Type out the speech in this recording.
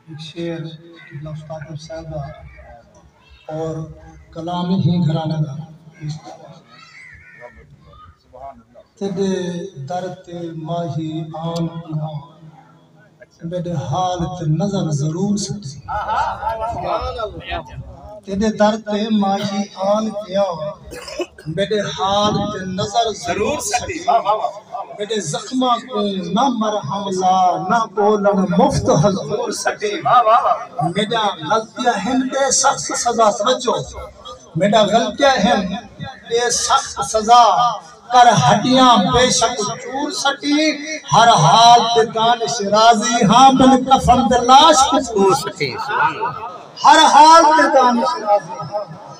ہک شعر قبلہ استاد ایم صاحب دا اور کلام وی ہی گھرانے دا تیڈے در تے ماہی آن پنہاں میڈے حال تے نظر ضرور سٹی تیڈے در تے ماہی آن پنہاں میݙے حال تے نظر ضرور سٹی میݙے زخماں کوں نہ مرہم لا نہ ٻولݨ مفت حضور سٹی میݙا غلطیاں ہن تے سخت سزا توجہ میݙا غلطیاں ہن تے سخت سزا کر ہڈیاں بیشک چور سٹی ہر حال تے دانش راضی ہاں بن کفن دے لاش کوں چور سٹی ہر حال تے دانش راضی ہاں